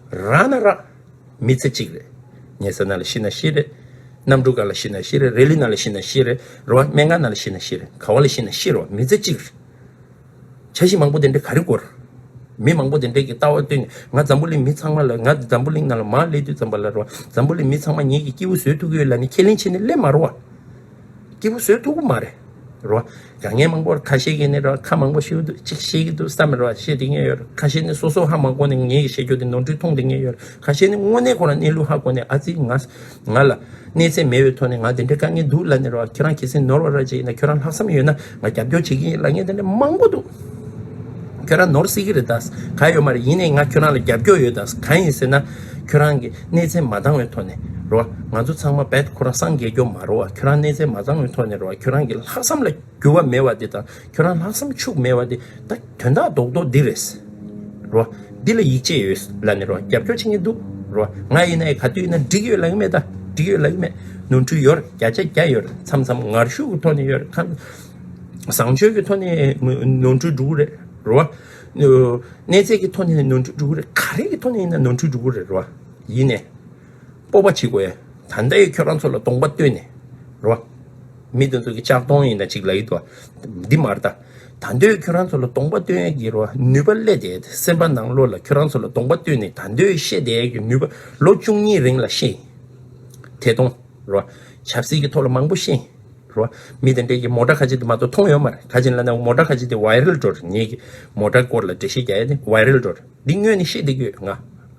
རག་ན་རག། མི་ཚེ་གཅིག་རེད། ཉལ་ས་ན་ལ་ཤི་ན་ཤི་རེད། གནམ་གྲུ་ག་ལ་ཤི་ན་ཤི་རེད་རས་ལུད་ན་ལ་ཤི་ན་ཤི་རེད་རོ་བ་སྨན་ཁང་ན་ལ་ཤི་ན་ཤི་རེད་ག་བ་ལ་ཤི་ན་ཤི་རོ་མི་ཚེ་གཅིག་རེད། བྱ་བཞིན་མང་པོ་དེ་འདྲས་ག་རེ་དགོས། མི་མང་པོ་དེ་འདྲས་ཀྱི་ལྟ་བ་བཏོན་ནས་ང་འཛམ་བུ་གླིང་མི་ཚང་མ་ལ་ང་འཛམ་བུ་གླིང་ན་ལ་མ་བསླེས་དུས་ཙམ་པ་ལ་རོ་བ་འཛམ་བུ་གླིང་མི་ཚང་མ་ཉིད་ཀྱི་སྐྱེས་བུ་བཟོས་ཐུག་གི་ཡོད་ལ་ནི་ཁས་ལེན་བྱས་ནས་བསླེས་མ་རོ་བ། སྐྱིད་པོ་བཟོས་འདུག་གོ་མ་རེད་རོ། རྒྱ་ངན་མང་པོར་ཁ་ཤེས་ཀྱི་ནི་རོ་ཁ་མང་པོ་ཤེས་འདུག་ཅིག་ཤེས་ཀྱི་འདུག་བསམ་མེད་རོ་ཤེས་དེ་ངེས་ཡོད་རོ་ཁ་ཤེས་ནི་སོ་སོ་ཧ་མང་གོ་ནི་ངེས་ཀྱི་ཤེས་རྒྱུ་དེ་ནོར་འཁྲུལ་མཐོང་དེ་ངེས་ཡོད་རོ་ཁ་ཤེས་ནི་དངོས་གནས་ཁོ་རང་གནས་ལུགས་ཧ་གོ་ནི་ཨ་ཙི་ང་ང་ལ་གནས་ཚད་མེད་བའི་ཐོག་ནས་ང་དེ་འདྲའི་དཀའ་ངལ་འདུག་ལ་ནི་རོ་ཁྱེད་རང་གལ་སྲིད་ནོར་བ་ར་ཅིག་ཡིན་ན་ཁྱོད་རང་ལྷག་བསམ་ཡོད་ན། ང་རྒྱབ་སྐྱོར་བྱེད་ཀྱི་ཡིན་ལ་ངས་དེ་འདྲའི་མང་པོ་འདུག་ཁྱོད་རང་ནོར་སྲིད་ཀྱི་རེད་དཱ་ག་ཡོད་མ་རེད་ཡིན་ནའི་ང་ཁྱོད་རང་ལ་རྒྱབ་སྐྱོར་ཡོད་དཱ་ག་ཡིན་ཟེར་ན་ཁྱོད་རང་གི་གནས་ཚད་མ་འདང་བའི་ཐོག་ནས་རེད་བ་ང་ཚོ་ཚང་མ་བད་ཁོ་རང་སངས་རྒྱས་སྐྱོབ་མ་རེད་བ་ཁྱོད་རང་གནས་ཚད་མ་འདང་བའི་ཐོག་ནས་རེད་བ་ཁྱོད་རང་གི་ལྷག་བསམ་ལ་འགྱུར་བ་མེད་བ་དེ་དང་ཁྱོད་རང་ལྷག་བསམ་ཕྱུག་མེད་བ་དེ་ད། དོན་དག་རྡོག་རྡོག་འདི་རེད། རོ། འདི་ལ་ཡིག་ཆས་ཡོད། ལ་ནི་རོ་རྒྱབ་སྐྱོར་བྱེད་མཁན་འདུག། རོ། ང་ཡིན་ན་ཡི་ག་དུས་ན་འགྲིག་ཡོད་ལ་ཡིན་མེད་ད། འགྲིག་ཡོད་ལ་ཡིན་མེད། ནོར་འཁྲུལ་ཡོད། བརྒྱ་ཆ་བརྒྱ་ཡོད། མཚམས་མཚམས་ངར་ཤུགས་ཀྱི་ཐོག་ནས་ཡོད། ཁ། བཟང་སྤྱོད་ཀྱི་ཐོག་ནས་ནོར་འཁྲུལ་འགྲོ་གི་རེད། རོ། གནས་ཚད་ཀྱི་ཐོག་ནས་ནོར་འཁྲུལ་འགྲོ་གི་རེད། ག་རེ་གི་ཐོག་ནས་ཡིན་ན་ནོར་འཁྲུལ་འགྲོ་གི་རེད། རོ། ཡིན་ནས། སྤོབས་པ་བྱེད་དགོས། ད་ལྟ་ཡི་ཁྱོད་རང་ཚོ་ལ་གདོང་པ་སྟོན་ནས་རོ། མི་དེ་ཚོ་གི་ལྕགས་གདོང་ཡིན་ན་ཅིག་ལ་ཡོད་དོ། འདི་མ་རྟ། ད་ལྟ་ཡི་ཁྱོད་རང་ཚོ་ལ་གདོང་པ་སྟོན་ཡས་ཀྱི་རོ། ནུས་པ་བསླད་དེ་སེམས་པ་ནང་ལོ་ལ་ཁྱོད་རང་ཚོ་ལ་གདོང་པ་སྟོན་ནས་ད་ལྟ་ཡི་ཤེས་དེ་ཡས་ཀྱི་ནུས་པ་ལོ་བཅུ་གཉིས་རིང་ལ་ཤེས་དེ་གཏོང་རོ། ཆབ་སྲིད་ཀྱི་ཐོག་ལ་མང་པོ་ཤེས་རོ། མི་དེ་འདྲས་ཀྱི་མོ་ཏྲ་ཁ་ཅིག་དེ་མ་གཏོགས་མཐོང་ཡོད་མ་རེད་ག་ཅིག་ལ་ན་མོ་ཏྲ་ཁ་ཅིག་དེ་བའི་རིལ་འགྲོ་རེད་ངེད་ཀྱི་མོ་ཏྲའི་སྐོར་ལ་འགྲེལ་བཤད་རྒྱག་ཡས་དེ་བའི་རིལ་འགྲོ་རེད་འདི་དངོས་ནས་ཤེས་དེ་ཡོད་ང་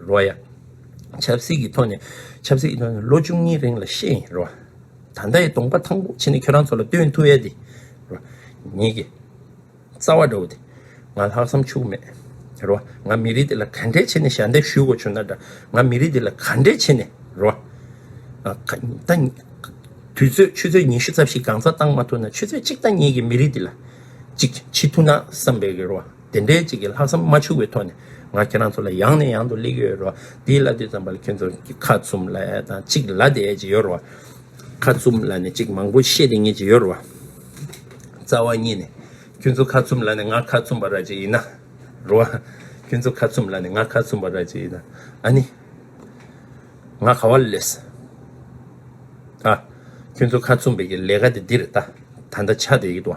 རོ་ཡ། ཆབ་སྲིད་ཀྱི་ཐོག་ནས་ཆབ་སྲིད་ཀྱི་ཐོག་ནས་ལོ་བཅུ་གཉིས་རིང་ལ་ཤེས་ཡིན་རོ། ད་ལྟ་ཡི་གདོང་པ་ཐང་པོ་ཆེ་ནི་ཁྱོད་རང་ཚོ་ལ་སྟོན་ཐུ་ཨེ་དེ་རོ། ཉིད་ཀྱི་རྩ་བ་འདྲ་བོ་དེ་ང་ལྷག་བསམ་ཕྱུག་མེད་རོ། ང་མི་རིགས་འདི་ལ་ག་འདྲའི་ཆེ་ནས་ཞལ་འདེབས་ཞུས་དགོས་བྱུང་ན་འདྲ། ང་མི་རིགས་འདི་ལ་ག་འདྲའི་ཆེ་ནས་རོ། ད་དུས་ཚོད་ཆུ་ཚོད་ཉི་ཤུ་རྩ་བཞི་གང་ཟག་བཏང་མ་ཐུབ་ན་ཆུ་ཚོད་གཅིག་ད་ཉིད་ཀྱི་མི་རིགས་འདི་ལ་ཅིག་བྱེད་ཐུ་ན་བསམ་པའི་རོ། དེ་འདྲའི་གཅིག་གི་ལྷག་བསམ་མ་འཆུག་པའི་ཐོག་ནས་ང་ཁྱེད་རང་ཚོ་ལ་ཡང་ནས་ཡང་དུ་གླེགས་ཡོད་རོ། དེའི་ལ་དུས་ཙམ་པར་ལ་ཁྱེད་ཚོར་གྱི་ཁ་བཙུམ་ལ་ཡ་དང་གཅིག་ལ་དེ་ཅི་ཡོད་རོ། ཁ་བཙུམ་ལ་ནས་གཅིག་མང་པོ་ཤེས་དེ་ངས་ཅི་ཡོད་རོ། རྩ་བ་གཉིས་ནས་ཁྱོད་ཚོ་ཁ་བཙུམ་ལ་ནས་ང་ཁ་བཙུམ་པ་ར་ཅི་ཡིན་ན་རོ། ཁྱོད་ཚོ་ཁ་བཙུམ་ལ་ནས་ང་ཁ་བཙུམ་པ་ར་ཅི་ཡིན་ན་ཨ་ནི། ང་ག་བ་ལ་ལས་སྲིད། ཨ། ཁྱོད་ཚོ་ཁ་བཙུམ་པའི་གི་ལས་ཀ་དེ་འདི་རེད་ད། ད་ད་ཆ་དེ་ཡིད་དོ།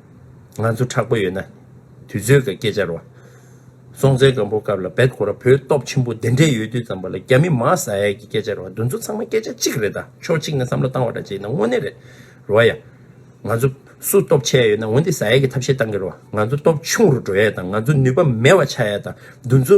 ང་ཚོ་དྲག་པོ་ཡོད་ན། དུས་ཚོད་ཀྱི་སྐད་ཆར་བ། སྲོང་བཙན་སྒམ་པོ་སྐབས་ལ་བལ་གོ་ར་བོད་སྟོབས་ཆེན་པོ་འདི་འདྲས་ཡོད་དུས་ཙམ་པ་ལ་རྒྱ་མི་མ་ཟ་ཡ་གི་སྐད་ཆར་བ་འདུ་ཚོ་ཚང་མ་སྐད་ཆ་གཅིག་རེད་ད་ཕྱོགས་གཅིག་ནས་བསམ་བློ་བཏང་བ་འདྲ་བྱེད་ན་དངོས་གནས་རེད་རོ་ཡ། ང་ཚོ་སུ་སྟོབས་ཆེ་ཡ་ཡོད་ན་འོན་ཏེ་ཟ་ཡ་གི་ཐབས་ཤེས་གཏང་གི་རོ་ང་ཚོ་སྟོབས་ཆུང་རུ་འགྲོ་ཡ་དང་ང་ཚོ་ནུས་པ་མེད་བ་ཆགས་ཡ་དང་འདུ་ཚོ།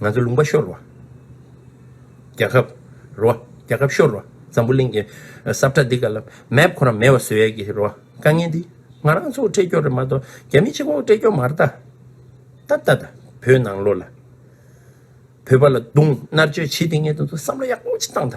ང་ཚོ་ལུང་པ་ཤོར་བ། རྒྱལ་ཁབ། རོ། རྒྱལ་ཁབ་ཤོར་བ། འཛམ་བུ་གླིང་གི། སྲབ་ཁྲ་འདི་ག་ལ། Map ཁོ་རང་མེད་བ་བཟོས་ཡས་ཀྱི། རོ། དཀའ་ངལ་འདི། ང་རང་ཚོ་འཕྲད་སྐྱོར་རེད་མ་གཏོགས། རྒྱ་མི་ཕྱི་ཁོག་འཕྲད་སྐྱོར་མ་རེད་ད། ད་ད་ད། བོད་ནང་ལོ་ལ། བོད་པ་ལ་རྡུང། མནར་གཅོད་བྱེད་དེ་ངས་དོན་དུ་བསམ་བློ་ཡག་པོ་ཅིག་བཏང་ད།